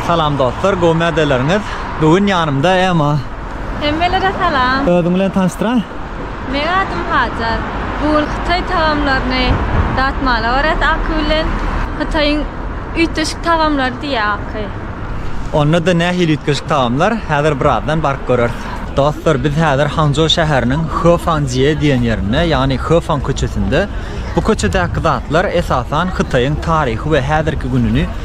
Salam dostlar gowy mädeleriňiz bu gün ýanymda ema. Hemmelere salam. Özüň bilen tanyşdyraý. Meň adym Hajar. Bu gün hytaý tagamlaryny datmala barýas Aky bilen. Hytaýyň üýtgeşik tagamlary diýýär Aky. Onda-da nähili üýtgeşik tagamlar häzir birazdan baryp göreris. Dostlar biz häzir Hangjo şäheriniň Hefang Jie diýen ýerinde ýagny Hefang köçesinde. Bu köçedäki zatlar esasan Hytaýyň taryhy we häzirki gününi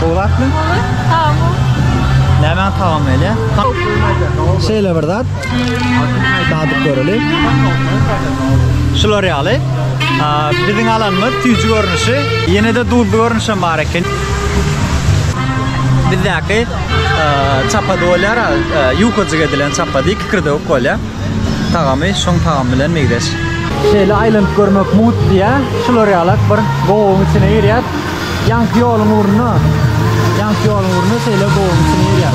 Gowrakmy? Gowy. Tagamyň? Nämäň tagamy elä? Şeýle bir zat. Dadyp göreli. Şular ýaly. Biziň alanymyz süýji görnüşi. Ýene-de duzly görnüşem bar eken. Bizdäki Çapa bolýar, ýukajyk edilen çapa diýip kikirdewik bolýar. Tagamy şoň tagamy bilen meňzeş. Şeýle aýlanyp görmek mugt diýýär. Şular ýalak bir gowagyň içine girýär. Ýaňky ýoluň ugruna, ýaňky ýoluň ugruna şeýle gowagyň içine girýär.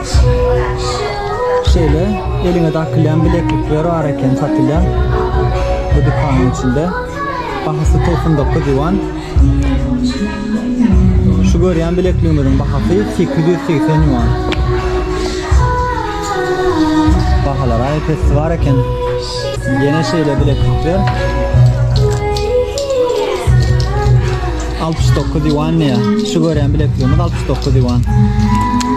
Şeýle eliňe dakylýan bileklikler bar eken satylýan bu dükanyň içinde. Bahasy togsan dokuz ýuan. Şu görýän bilekligimiziň bahasy sekiz ýüz segsen ýuan. Bahalar aýy pesli bar eken. Ýene şeýle bileklikler. Altmyş dokuz ýuan diýýär. Şu görýän bilekligimiz altmyş dokuz ýuan.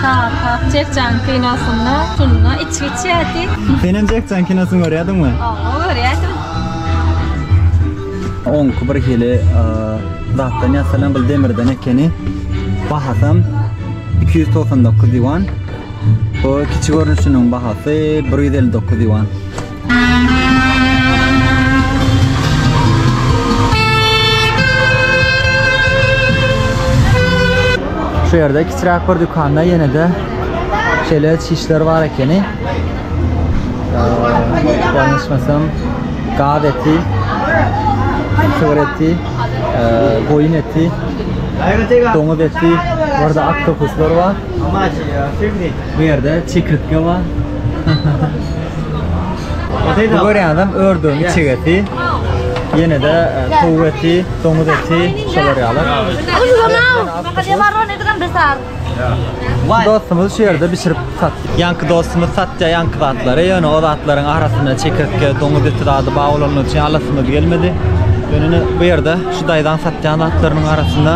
Çapak Jackjan kinosynda şunda içki içýärdi. Senem Jackjan kinosyny görýärdiňmi? Oba görýärdim. Oňky bir hili zatdan ýasalan bil demirden ekeni. Bahasam iki ýüz togsan dokuz ýuan. Bu kiçi görnüşiniň bahasy bir ýüz elli dokuz ýuan. Şu ýerde kiçiräk bir dükanda ýene-de şeýle çişler bar ekeni. Ýalňyşmasam, gaz eti, sygır eti, goýun eti, doňuz eti, burada aktopuslar bar. Bu ýerde çekirtge bar. Bu görýäňizem ördügiň içek eti. Ýene-de towuk eti, doňuz eti şolar ýaly. Dostumyz şu ýerde bişirip satýar. Ýaňky dostumyz satýar ýaňky zatlary. Ýöne o zatlaryň arasynda çekirtge, doňuz eti zady bar bolany üçin alasymyz gelmedi. Ýöne ine bu ýerde şu daýzaň satýan zatlarynyň arasynda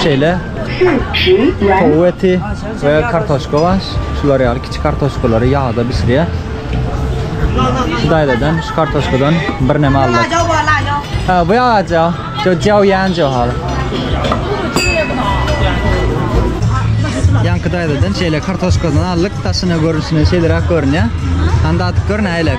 şeýle Towuk eti we kartoşka baş. Şular ýaly kiçi kartoşkalary ýagda bişirýär. Şu daýzadan şu kartoşkadan birneme aldy. Ha, bu ýagaja. Şu jaw ýanjo hal. Ýanky daýzadan şeýle kartoşkadan aldyk. Daşyna görnüşine şeýleräk görünýär. Handa atyp gör nälelik.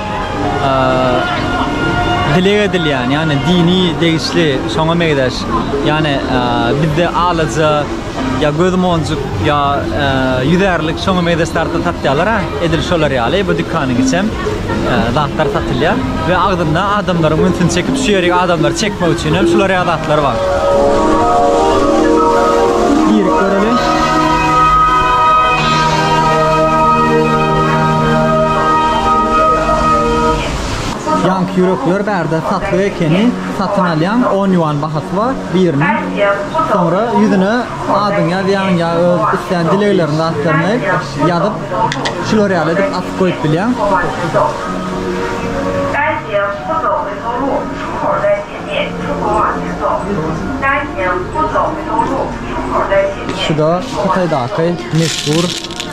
dileg edilýän, ýagny dini degişli şoňa meňzeş, ýagny bizde alaja ýa göz monjuk ýa ýüzärlik şoňa meňzeş zatlar satýarlar, edil şolar ýaly bu dükanyň içem zatlar satylýar we agzynda adamlaryň ünsüni çekip şu ýerik adamlary çekmek üçin hem şular ýaly zatlar bar. Girip göreliň. Ýanky ýürekler bärde satlyk ekeni satyn alýaň on ýuan bahasy bar biriniň soňra ýüzüne adyňy ýazýaň ýa öz islän dilegleriň zatlaryňy ýazyp şular ýaly edip asyp goýup bilýäň. Şuda hytaýdaky meşhur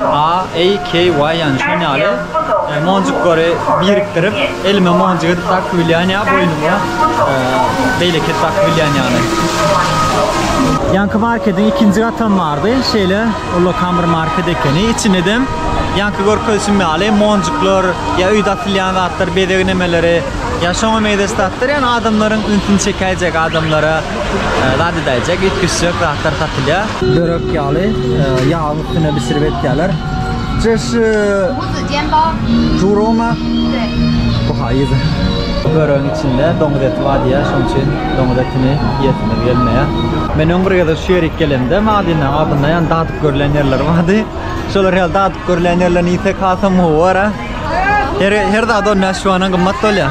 A, A, K, Y ýany şon ýaly monjuklary birikdirip elime monjuk edip dakyp bilýän ýa boýnuma beýleki edip dakyp bilýän ýaly. Ýanky markediň ikinji gatam bardy. Şeýle ullakan bir market ekeni. Içindem ýanky görkezişim ýaly monjuklar, ýa öýde atylýan zatlar, bezeg nemeleri, ýa şoňa meňzeş zatlar, ýa adamlaryň ünsüni çekäýjek adamlara Zat edäýjek, üýtgeşjek zatlar satylýar. Börek ýaly, ýagyň üstüne bişirip etýärler. Çeş... Buzy diýen bar. Juroma? Bu haýyz. Böregiň içinde doňuz eti bar diýýär, şonuň üçin doňuz etini iýesimiz gelmeýär. Men öň bir gezek şu ýere ilki gelemde, magaziniň agzynda ýan dadyp görlen ýerler bardy. Şolar ýaly dadyp görlen ýerlerini iýsek hasam gowy bor-a. Her zat ondan şu an gymmat bolýar.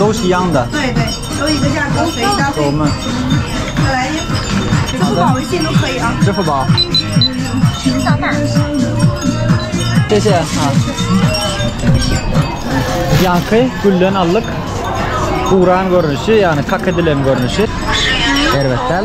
Dowşy ýanda. Dowmy. Çyfy ba. Teşe. Ha. Ýaňky gülden aldyk. Guran görnüşi, ýagny kak edilen görnüşi. Erbet däl.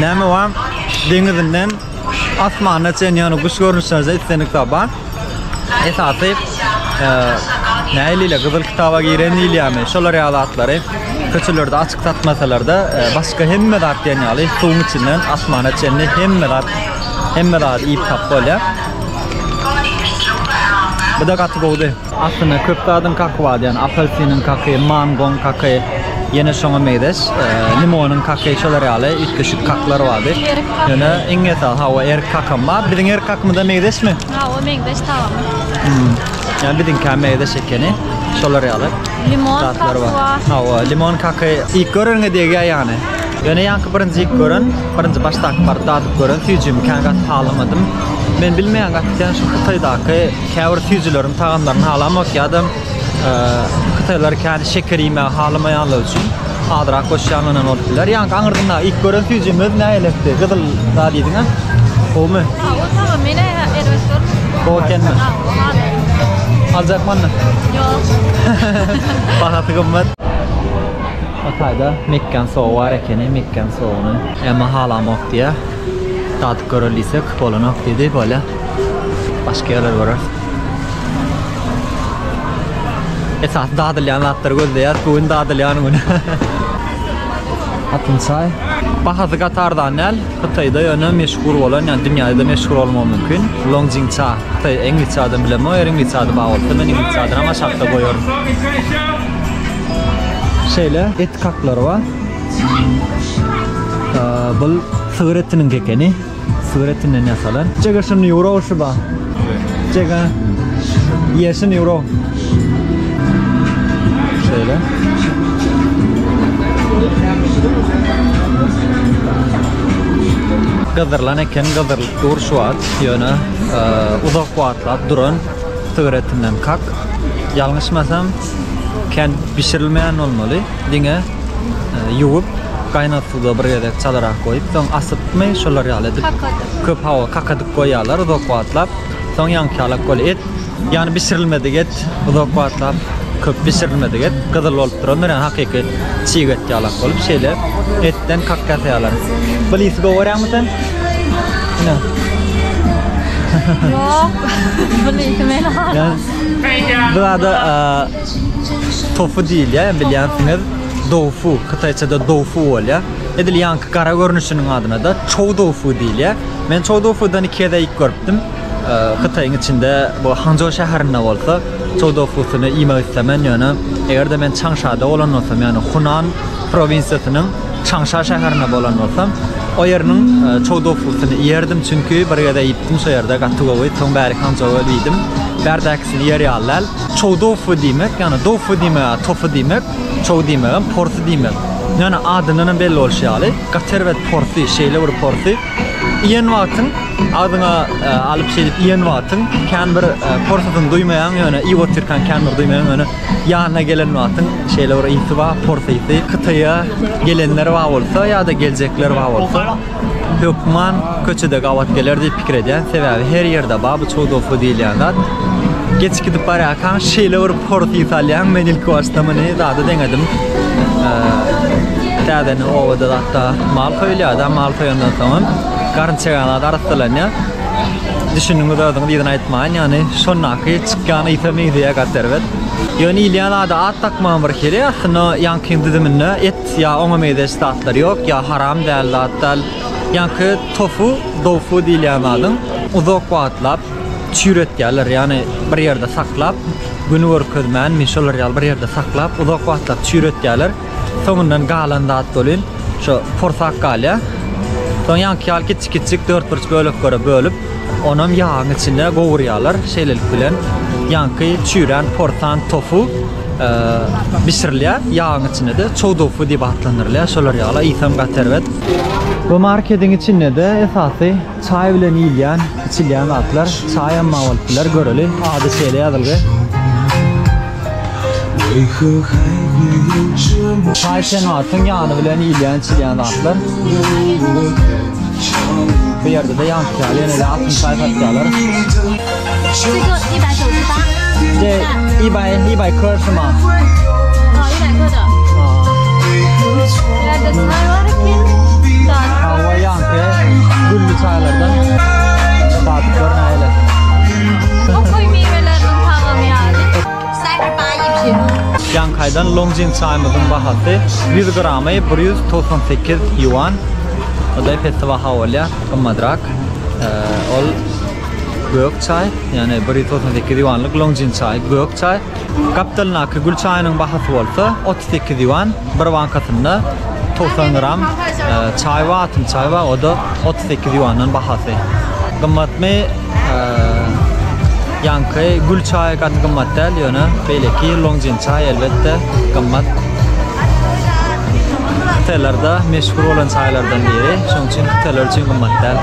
Näme bar? Deňizinden asmana çenli ýöne guş görnüşlerinde islendik zat bar. Esasy e, näliyle gyzyl kitaba giren diýilýärmi? Şolar ýaly zatlary köçelerde açyk satmasalarda e, başga hemme zat diýen ýaly suwuň içinden asmana çenli hemme zat hemme zat iýip tap bolýar. Bu da gaty gowdy. Aslynda köp zadyň kaky bar, ýagny apelsiniň kaky, mangoň kaky, ýene şoňa meýleş, limonyň kaky, şolar ýaly üýtgeşik kaklar bardy. Ýöne iň esasy, hawa, erik kakam bar. Biziň erik kakymyza meýleşmi? Hawa, meňzeş tagamy. Ýa biziňkä meýleş ekeni. Şolar ýaly. Limon kaky bar. Hawa, limon kaky ilk göreniňe degýär ýagny. Ýöne ýaňky birinji ilk gören, birinji başdaky baryp dadyp gören süýjimi kän gaty halamadym. Men bilmeýän gaty kän şu Hytaýdaky Käbir süýjüleriň tagamlaryny halamak ýa-da hytaýlar kän şeker iýmegi halamaýanlar üçin azrak goşýanlaryň hem bolup biler. Ýaňky aňyrdynda ilk gören süýjümiz näletti? Gyzyl zat diýdiňä? Gowumy? Gowy, tamam. Men erbet görmüň. Gowy ekenmi? Aljakmanda? Ýok. Bahasy gymmat. Hytaýda mekgan sowy bar ekeni, mekgan sowyny. Emma halamok diýýär. Sadyk görer diýsek, bolanok diýdi. Bolýa. Başga ýerler göreris. Esasy dadylýan zatlary gözleýäs. Bu gün dadylýan gün. Atyn çaý. Bahasy gaty arzan däl. Hytaýda ýöne meşhur bolan, ýa dünýäde müşhur bolmagy mümkin. Longjing ça. Hytaý iňlisçe adyny bilemok. Eger iňlisçe ady bar bolsa, men iňlisçe adyny hem aşakda goýaryn. Şeýle et kaklary bar. Bul sygyr etiniň kekeni. Sygyr etinden ýasalan. Jega şuny ýuwro şu ba. Jega. Ýe şuny ýuwro. Şeýle. Gyzdyrylan eken gyzdyrylyp dur şu wagt. Ýöne uzak wagtlap duran sygyr etinden kak. Ýalňyşmasam kän bişirilmeýän bolmaly. Diňe ýuwup, gaýnat suwda bir gezek çalarak goýup, soň asypmy, şolar ýaly edip. Kakadyp. Köp hawa, kakadyp goýýarlar uzak wagtlap. Soň ýaňky ýalak bolup et, ýagny bişirilmedik et, uzak wagtlap köp bişirilmedik et gyzyl bolup durandyr, ýagny hakyky çig et ýalak bolup şeýle etden kaka ýasaýarlar. Bul ysy gowy görýäňmi sen? Ine. Ýok. Bul ysy men. Ýa. Bu zada Tofu diýilýär, hem bilýänsiňiz, doufu, hytaýçada doufu bolýar. Edil ýaňky gara görnüşiniň adyna-da çou doufu diýilýär. Men çou doufudan iki gezek iýip görüpdim. Hytaýyň içinde, bu Hançžou şäherinde bolsa, çou doufusyny iýmek islemän, ýöne eger-de men Çangşada bolan bolsam, ýagny Hunan prowinsiýasynyň Çangşa şäherinde bolan bolsam, o ýeriniň çou doufusyny iýerdim, çünki bir gezek iýipdim şo ýerde, gaty gowy, soň bäri Hançžowa öýdüm. Bärdäkisini iýer ýaly däl. Çow dofy diýmek, ýagny dofy diýmek, tofy diýmek, çow diýmegem porsy diýmek. Ýöne adyndan hem belli bolşy ýaly, gaty erbet porsy, şeýle bir porsy. Iýen wagtyň, agzyňa alyp şeýdip iýen wagtyň, kän bir porsysyny duýmaýaň, ýöne iýip otyrkaň kän bir duýmaýaň, ýöne ýanyna gelen wagtyň şeýle bir ysy bar, porsy ysy. Hytaýa gelenler bar bolsa ýa-da geljekler bar bolsa, Hökman köçede gabat geler diýip pikir edýän, sebäbi her ýerde bar bu çowdofly diýilýän zat. Geçip gidip barýarkaň şeýle bir pors ys alýaň, men ilki başda muny zada deňedim. Täzeden obada zatda mal soýulýar-da, mal soýandan soňam garyn çeýän zat arassalanýar. Düşündiňiz özüňiz ýygna aýtmaýyn, ýagny şondaky çykýan ysa meňzeýär gaty erbet. Ýöne iýilýän zada at dakmagam bir hili, aslynda ýaňkyň düzüminde et Ýa oňa meýzeş zatlar ýok, ýa haram däl zat däl. Ýaňky tofu, doufu diýilýän zadyň uzak wagtlap çüýredýärler, ýagny bir ýerde saklap, güni görkezmänmi, şolar ýaly bir ýerde saklap, uzak wagtlap çüýredýärler. Soňundan galan zat welin şo porsak galýar. Soň ýaňky ýaly kiçik-kiçik dörtburç böleklere bölüp, onam ýagyň içinde gowurýarlar. Şeýlelik bilen ýaňky çüýrän porsan tofu. bişirilýär. Ýagyň içinde-de çowdofy diýip atlandyrylýar. Şolar ýaly ysam gaty erbet. Bu marketiň içinde-de esasy çaý bilen iýilýän, içilýän zatlar. Çaý hem maý bolup biler, göreli. Ady şeýle ýazylgy. Çaý senatyň ýany bilen iýilýän, içilýän zatlar. Bu ýerde-de ýankyýaly ýene-de altyn çaý satýarlar. Ýaňkaýdan Longjing çaýymyzyň bahasy ýüz gramy bir ýüz togsan sekiz ýuan. Ol-da ep-esli baha bolýar, gymmadrak. Ol Gök çaý, ýagny 198 ýuanlyk Longjin çaýy, gök çaý. Gapdalyndaky gül çaýynyň bahasy bolsa 38 ýuan, bir bankasynda 90 gram e, çaý we atym çaý we o da 38 ýuandan bahasy. Gymmatmy? E, Ýanky gül çaýy gaty gymmat däl, ýöne beýleki Longjin çaý elbetde gymmat. Hytaýlarda meşhur bolan çaýlardan biri, şonuň üçin hytaýlar üçin gymmat däl.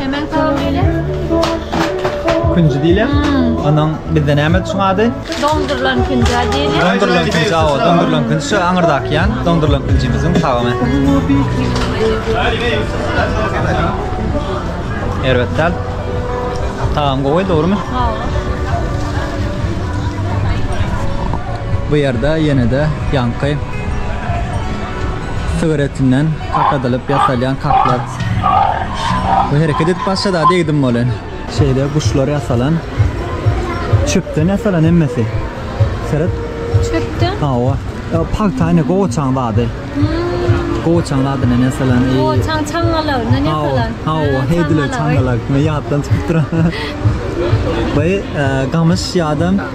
Hemen salam eyle. Künji diýilýär. Onuň bizde näme üçin ady? Dondurylan künjä diýilýär. Dondurylan künji, awa, dondurylan künji. Şu aňyrdaky ýan dondurylan künjimiziň tagamy. Erbet däl. Tagam gowy, dogrumy? Bu ýerde ýene-de ýaňky sygyr etinden kakadylyp ýasalýan kaplar we hereket edip başlady degdim bolen. Şeýle guşlar ýasalan. Çöpden ýasalan hemmesi. Seret. Çöpden? Hawa. Ýa pagta ine gowaçaň zady. Gowaçaň zadyndan ýasalan. Gowaçaň çaňňalagyndan ýasalan. Hawa, heýdile çaňňalak. Men ýatdan çykyp duran. Baý gamyş ýa-da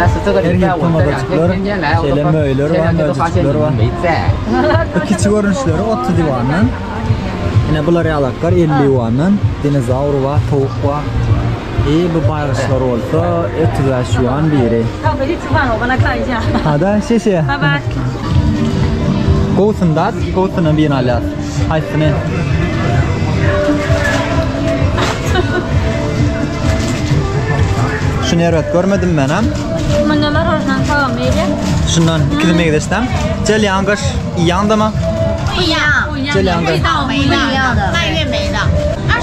Her ýurtda mazajyklar, şeýle möýler bar, möjejikler bar. Bu kiçi görnüşleri otuz ýuandan, ine bular ýalaklar elli ýuandan, dinozawr bar, towuk bar. I bu baýgyçlar bolsa otuz bäş ýuan biri. Ada şeşe. Gowusynda, gowusyna birini alýas. Haýsyny? Şuny erbet görmedim men hem. Munda marojnan salam meýle. Şundan ikili meýleşsem. Jel ýangyş, ýandama. Ýa. Jel ýangyş. Meýle. Meýle.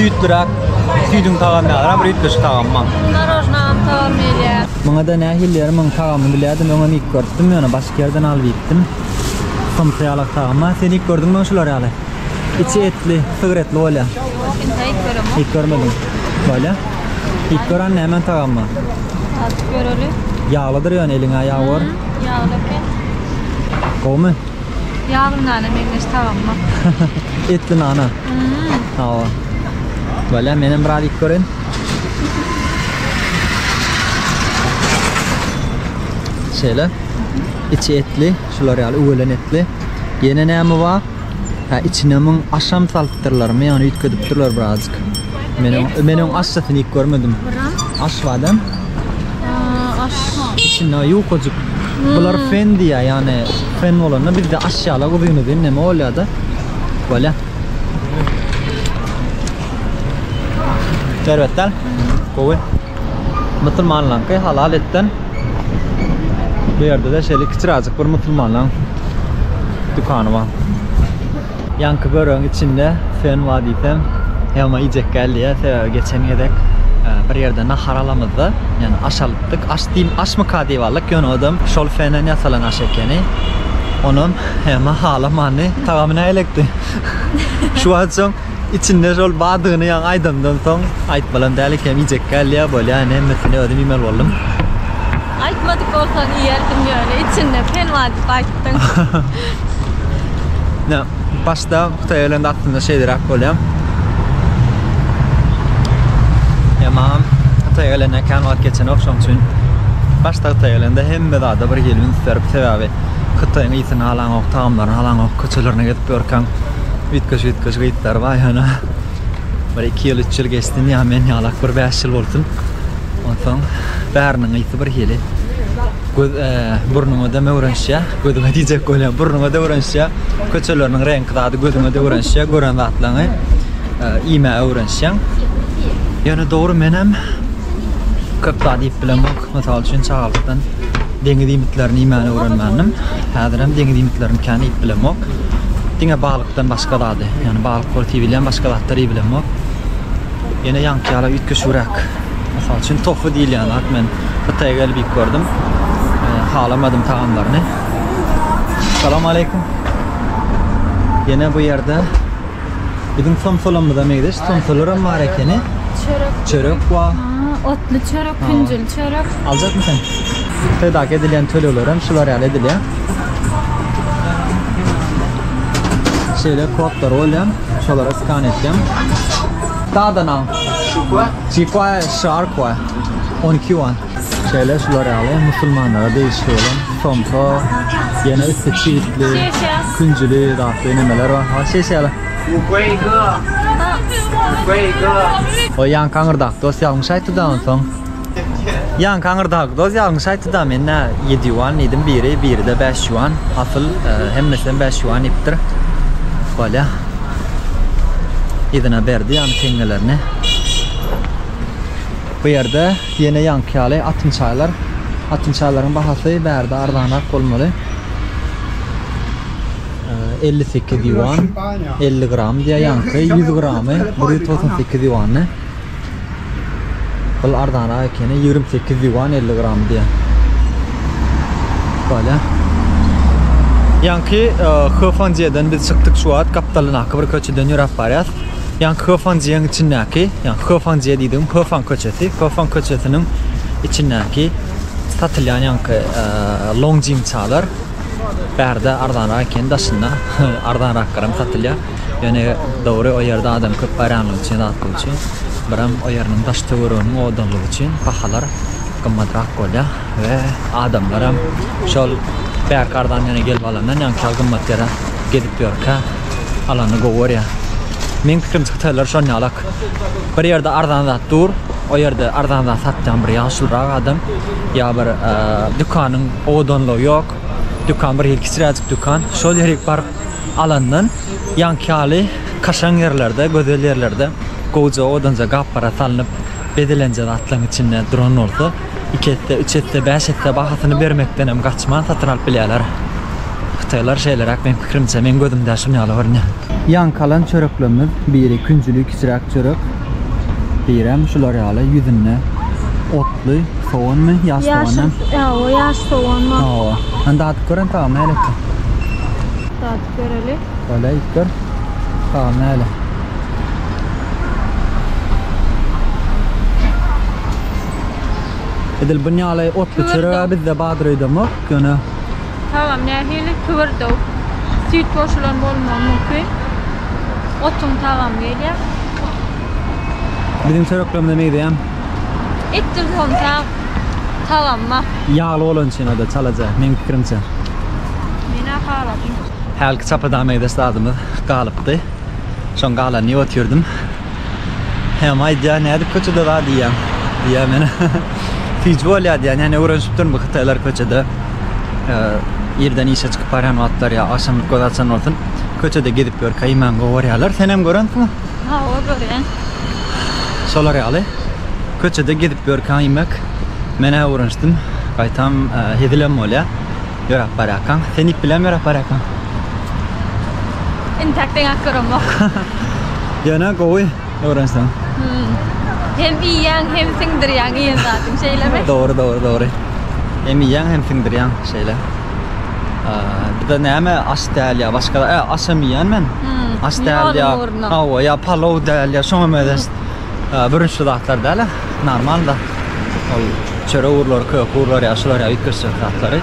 Süýtlüräk, süýdüň tagamy ýaram, rüýtleşik tagamy maň. Narojnam tagamy gelýä. Muňa da nähili ýeri muň tagamy bilýädim, öňe mik görüpdim, ýöne başga ýerden alyp iýipdim. Somsa ýalak tagamy, a sen iýip gördüňmi öň şular ýaly? Içi etli, sygyr etli bolýa. Ýok, inta iýip göremok. Iýip görmediň. Bolýa. Diýip gören nämen tagammy? Atyp göreli. Ýaglydyr ýöne eliňe ýag bar. Ýagly eken. Gowmy? Ýagly nana meňzeş tagamma. Etli nana. Hawa. Bala men hem biraz iýip göreýin. Şeýle. Içi etli, şular ýaly öwelen etli. Ýene näme bar? Hä içine muň aşam salypdyrlarmy ýagny üýtgedipdirler birazjyk. Men oň men oň aşjasyny iýip görmedim. Aş badam. Aş. Içinde ýukajyk. Bular fen diýýär ýagny fen bolanda bizde aş ýala uzyn uzyn neme bolýada. Bolýa. Şerbetdal. Gowy. Musulmanlaňky halal etden. Bu ýerde de şeýle kiçiräjik bir musulmanlaň dükany bar. Ýanky böregiň içinde fen bar diýsem, ýagma iýjek geldi ýa, sebäbi geçen gezek e, bir ýerde nahar alamyzda, ýani aş alypdyk. Aş diýim, aşmyka diýip aldyk, ýöne odam şol fenden ýasalan aş ekeni. Onam ýagma halamandy. Tagamy nälelikdi? Şu wagt soň Içinde şol badygyny ýaňy aýdandan soň aýtmalam däl ekem iýjek gelýär bolýar ine hemmesini özüm iýmeli boldum. Aýtmadyk bolsaň iýerdim ýöne içinde pelwan diýip aýtdyň. Ne, başda Hytaýa gelende aslynda şeýleräk bolýar. Emma Hytaýa gelende kän wagt geçenok şoň üçin başda Hytaýa gelende hemme zada bir hili üns berip sebäbi Hytaýyň ysyny halaňok, tagamlaryny halaňok, köçelerine gezip ýörkäň Üýtgeş üýtgeş gytlar baý hana. Bir 2 ýyl 3 ýyl geçsin ýa men ýalak bir 5 ýyl bolsun. Onsoň bäriniň ysy bir hili. Göz e, burnuňa da öwrenişýä. Gözüňe diýjek bolýan burnuňa da öwrenişýä. Köçeleriniň reňki zady gözüňe de öwrenişýä. Gören zatlaryňy e, iýmä öwrenişýäň. Ýöne dogry menem köp zat iýip bilemok. Mysal üçin, çagalykdan deňiz iýmitlerini iýmäni öwrenmändim. Häzir hem deňiz iýmitlerini kän iýip bilemok. Diňe balykdan başga zady, ýagny balyk bolup iýilýän başga zatlary iýip bilemok. Ýene ýaňky ýaly üýtgeşigräk. Mysal üçin, tofu diýilýän zat men Hytaýa gelip iýip gördüm. Halamadym tagamlaryny. Salam aleýkum. Ýene bu ýerde Biziň somsalamyza meýzeş somsalaram bar ekeni. Çörek. Çörek wa. Otly çörek, künjül çörek. Aljakmy sen? Södak edilen tölegler hem şular ýaly edilýär. Şeýle kodlar bolýar. Şolara skan etýän. Dadanan. Şukwa. Şukwa, şarkwa. 12 wan. Şeýle şular ýaly musulmanlara degişli bolan somka, ýene üsti çitli, künjüli zatly nemeler bar. Ha şeýşe ýaly. Oý ýaňky aňyrdaky dos ýalňyş aýtdyda onsoň. Ýaňky aňyrdaky dos ýalňyş aýtdyda men nä ýedi ýuan diýdim biri, biride bäş ýuan. Asyl hemmesem bäş ýuan diýipdir. Bolýa. Yzyna berdi ýany teňňelerini. Bu ýerde Ýene ýaňky ýaly atyn çaýlar. Atyn çaýlaryň bahasy bärde arzanrak bolmaly. Elli sekiz ýuan, elli gram diýýär ýaňky, ýüz gramy bir ýüz togsan sekiz ýuandy. Bul arzanrak ekeni, ýigrimi sekiz ýuan elli gramy diýýär. Bolýa. Ýaňky Heofandžeden biz çykdyk şu wagt, gapdalyndaky bir köçeden ýöräp barýas. Ýaňky Höfangjiýeň içindäki, ýagny Höfangjiýe diýdigim Höfang köçesi, Höfang köçesiniň içindäki satylýan ýaňky longjin çalar bärde arzanrak ekeni daşynda arzanrak garam satylýar. Ýöne dogry o ýerde adam köp barýanlygy üçin zatlygy üçin biram o ýeriniň daş töwereginiň owadanlygy üçin bahalar gymmatrak bolýar we adamlaram şol bärki arzan ýene gelip alandan ýaňky ýaly gymmat ýere gezip ýörkä Alany gowy görýän. Meň pikirimçe hytaýlar şonýalak. Bir ýerde arzan zat dur, o ýerde arzan zat satýan bir ýaşulrak adam ýa bir dükanyň owadanlygy ýok. Dükan bir hili kiçiräjik dükan. Şol ýere baryp alandan ýaňky ýaly kaşaň ýerlerde, gözel ýerlerde gowja owdanja gaplara salnyp bezelenje zatlaryň içinde duran bolsa, iki esse, üç esse, bäş esse bahasyny bermekdenem gaçman satyn alyp bilýärler. Hytaýlar şeýleräk meň pikirimçe, meň gözümde şun ýaly görünýär. Ýaňkalan çöreklerimiz biri künjüli kiçiräk çörek, birem şular ýaly ýüzünde otly soganmy, ýaş soganmy? Ýaşy, hawa, ýaş sogan bar. Hawa. Hany dadyp gör hany tagamy nälet dur. Dadyp göreli. Bolýa iýip gör. Tagamy näle? Edil buň ýaly otly çörege bizde badyr öýdemok ýöne. Tagam nähili? Tüwürdew. Süýt goşulan bolmagy mümkin. Otuň tagamy gelýär. Biziň çöreklerimize meýzeýän. Etdir somsa tagamy bar. Ýagly bolany üçin o-da çalaja, meň pikirimçe. Men-ä haladym. Hälki çapadamydaş zadymyz galypdy. Şoň galanyny otyrydym. Hem aýdýar, nädip köçede zat iýýäň? Diýýän men. Süýji bolýar diýýän, ýa ne öwrenişipdirin bu hytaýlar köçede. Irden işe çykyp barýan wagtlary ýa agşamlyk göz açan bolsun, köçede gezip ýörkä iýmän gowarýarlar. Senem görensiňmi? Hawa, görýän. Şolar ýaly. Köçede gezip ýörkä iýmek. Men-ä öwrenişdim. Gaýtam hezilem bolýar. Ýöräp barýarkaň, sen ip bilenmi ýöräp barýarkaň? Intäk deňäp göremok. Ýöne gowy öwrenseň. Hem iýýäň, hem siňdirýäň iýen zadyňy, şeýlemi? Dogry, dogry, dogry. Hem iýýäň, hem siňdirýäň, şeýle. Bir-de näme aç däl ýa başga, e, açam iýýän men. Aç däl ýa, hawa, ýa palow däl ýa, şoňam özüs bürünçli zatlar däl-ä, normalda. Ol çörek urlary, kök urlary, ýa şular ýa üýtgeşjek zatlary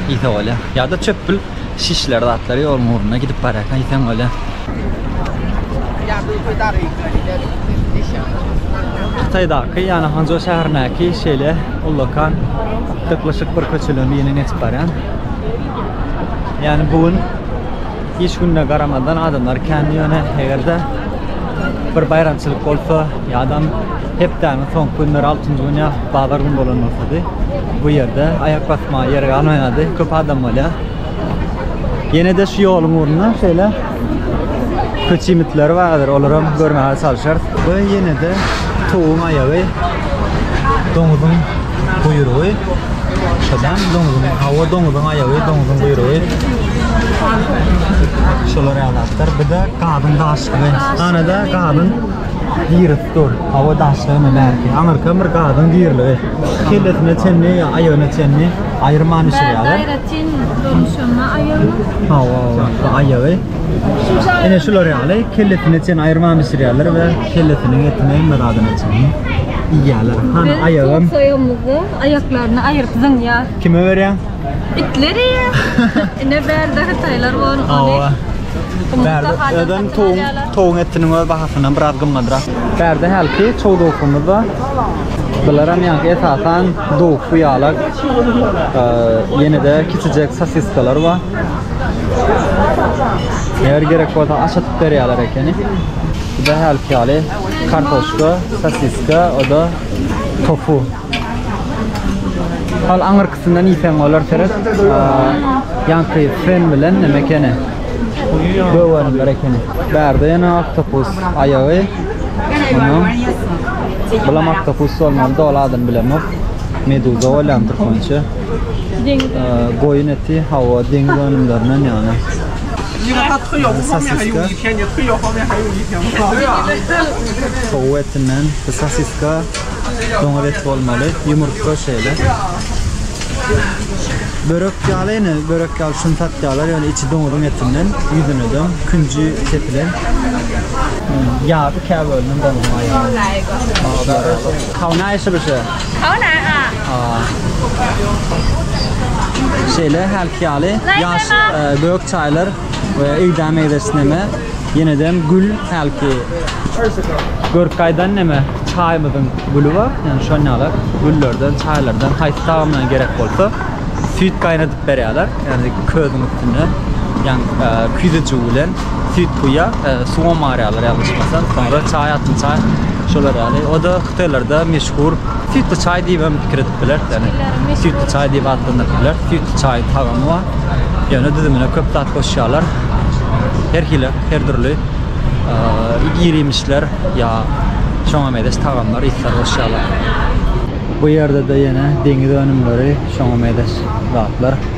iýse bolýar. Ýa-da çöpül şişler zatlary ýoluň ugruna gidip barýarkaň iýseň bolýar. Hytaýdaky, ýagny Hançžou şäherindäki şeýle ullakan dyklyşyk bir köçeleň birinden geçip barýan. Ýagny bu gün Iş gününe garamazdan adamlar kän ýöne eger-de bir baýramçylyk bolsa ýa-dam hepdäniň soňky günleri altynjy gün ýa bazar gün bolan bolsady bu ýerde aýak basmaga ýer galmaýardy köp adam bolýar. Ýene-de şu ýoluň ugrunda şeýle köç iýmitleri bardyr olaram görmäge çalyşarys. Bu ýene-de towugyň aýagy doňuzyň guýrugy şodan doňuzyň hawa doňuzyň aýagy doňuzyň guýrugy şolar ýalatlar bir de gazyň daşlygy ganada gazyň girip dur hawa daşlygy mı näki aňyrka bir gazyň girligi kellesine çenli aýagyna çenli aýyrman işleýärler aýratyn görnüşinde aýagy hawa aýagy Ene şular ýaly kellesine çen aýyrman bişirýärler we kellesiniň etini hemme zadyny çenli iýýärler. Hany aýagym. Soýamyzda aýaklaryny aýyryp zyňýar. Kime berýän? Itleri. Ine bärde hytaýlar bor. Awa. Bärde öden toň toň etiniň öz bahasyndan biraz gymmadrak. Bärde hälki çow dowkumyz bar. Bularam ýa esasan dowuk bu ýalak. Ýene-de kiçijek sosiskalar bar. Eger gerek bolsa aç atyp berýärler ekeni. Bu da her ýaly kartoşka, sosiska, o da tofu. Hal aňyrkysyndan iýseň bolar seret. Ýanky fen bilen neme ekeni? Göwenler ekeni. Bärde ýene oktopus aýagy. Ondan bulam oktopus bolmaly, doly adyny bilemok. Meduza bolýandyr konçe. Goýun eti, hawa, deňiz önümlerinden ýagny. Sosiska. Towuk etinden, sosiska, doňuz eti bolmaly, ýumurtga şeýle. Börek ýaly ýene, börek ýaly şuny satýarlar, ýöne içi doňuzyň etinden, ýüzüne de künji sepilen. Ýarpy käbälinden doňuzyň aýagy. Hawa, näme işe bişýär? Hola, a. A. Şeýle hälki ýaly ýaş e, gök çaýlar we öýdä meýzeşneme ýeneden gül hälki görkaýdan neme çaýymyzyň güli bar. Ýani şon ýaly güllerden, çaýlardan haýsy tagamlaryň gerek bolsa süýt gaýnadyp berýärler. Ýani közüň üstünde ýan e, küýzejigi bilen süýt guýýar, e, suwa marýarlar ýalňyşmasam, soňra çaý atyn çaý şolar ýaly. O da hytaýlarda meşhur süýtli çaý diýip hem pikir edip biler. Ýani süýtli çaý diýip atlandyryp biler. Süýtli çaýyň tagamy bar. Ýöne düzümine köp zat goşýarlar. Her hili, her dürli e, irimişler ýa şoňa mezeş tagamlar, isler goşýarlar. Bu ýerde-de ýene deňiz önümleri, şoňa mezeş zatlar.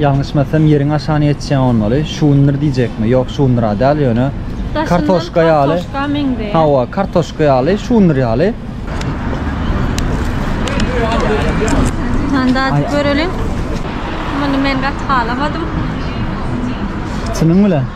Ýalňyşmasam ýeriň aşany ýetişýän bolmaly. Şundyr diýjekmi? Ýok, şundyra däl ýöne kartoşka ýaly. Hawa, kartoşka ýaly, şundyr ýaly. Dadyp göreliň. Muny men gaty halamadym. Çynyň bilen?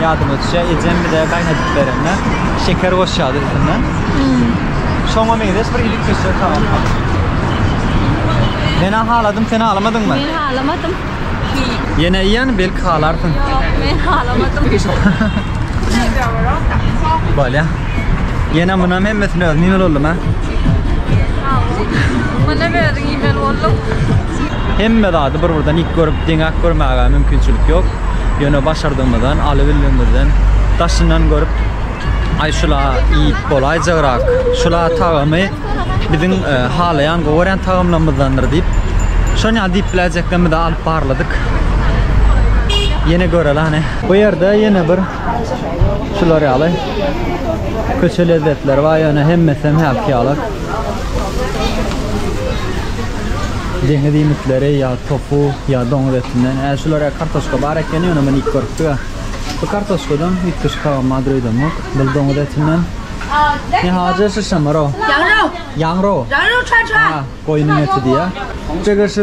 Ýadyma düşýär, ejem bize gaýnadyp berende şeker goşýardy üstüne. Şoňa meňzeş bir iýip geçýär salam. Menä haladym, sen halamadyňmy? Men halamadym. Ýene iýen, belki halarsyň. Ýok, men halamadym. Bolýa. Ýene munam hemmesini özüm iýmeli boldum-a. Munam özüň iýmeli bolduň. Hemme zady bir-birden ýyk görüp, deňäk görmäge mümkinçilik ýok. Ýöne başardygymyzdan, aly bildigimizden daşyndan görüp, aý şula iýip bolaýjagrak, şula tagamy biziň halaýan, gowy görýän tagamlarymyzdandyr diýip, şony ýaly diýip biläýjeklerimizi alyp barladyk. Ýene görelani. Bu ýerde ýene bir şular ýaly köçe lezzetleri bar, ýöne hemmesem hälki ýaly. Deňiz iýmitleri ýa tofu ýa doňuz etinden. Ä şular ä kartoşka bar ekeni ýöne men iýip görüpdik ä. Bu kartoşkadan üýtgeşik tagam bar döýdemok. Bul doňuz etinden. Ne hajy şişem bar o. Ýaňro. Ýaňro. Ýaňro çaçan. Ä goýnuň eti diýýä. Jigir şu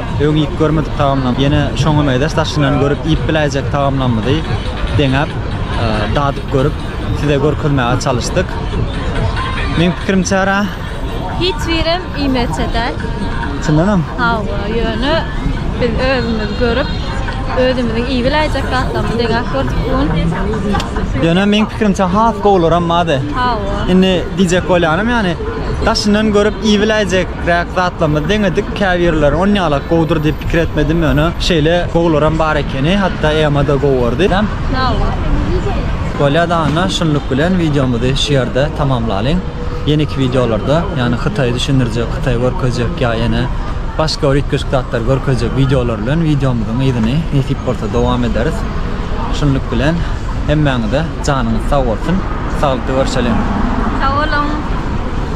Öň iýip görmedik tagamlarymy, ýene şoňa meňzeş daşyndan görüp iýip biläýjek tagamlarymyzy deňäp, dadyp görüp, size görkezmäge çalyşdyk. Meň pikirimçärä, Hiç birem iýmejek däl. Çyndanam? Hawa, ýöne biz özümiz görüp, özümiziň iýip biläýjek zatlarymyzy deňäp gördük bu gün. Ýöne meň pikirimçe has gowularam bady. Hawa. Indi diýjek bolýanym ýany daşyndan görüp iýip biläýjekräk zatlarymyzy deňedik. Käbirleri onýalak gowudyr diýip pikir etmedim, ýöne şeýle gowularam bar ekeni, hatda Emma-da gowy gördi. Sag bol. Bolýa-da Anna, şunluk bilen wideomyzy şu ýerde tamamlalyň. Ýeneki wideolarda, ýagny Hytaýy düşündirjek, Hytaýy görkezjek ýa ýene başga bir üýtgeşik zatlary görkezjek wideolar bilen wideomyzyň yzyny nesip bolsa dowam ederis. Şunluk bilen hemmäňize janyňyz sag bolsun. Saglykda görşeliň. Sag boluň.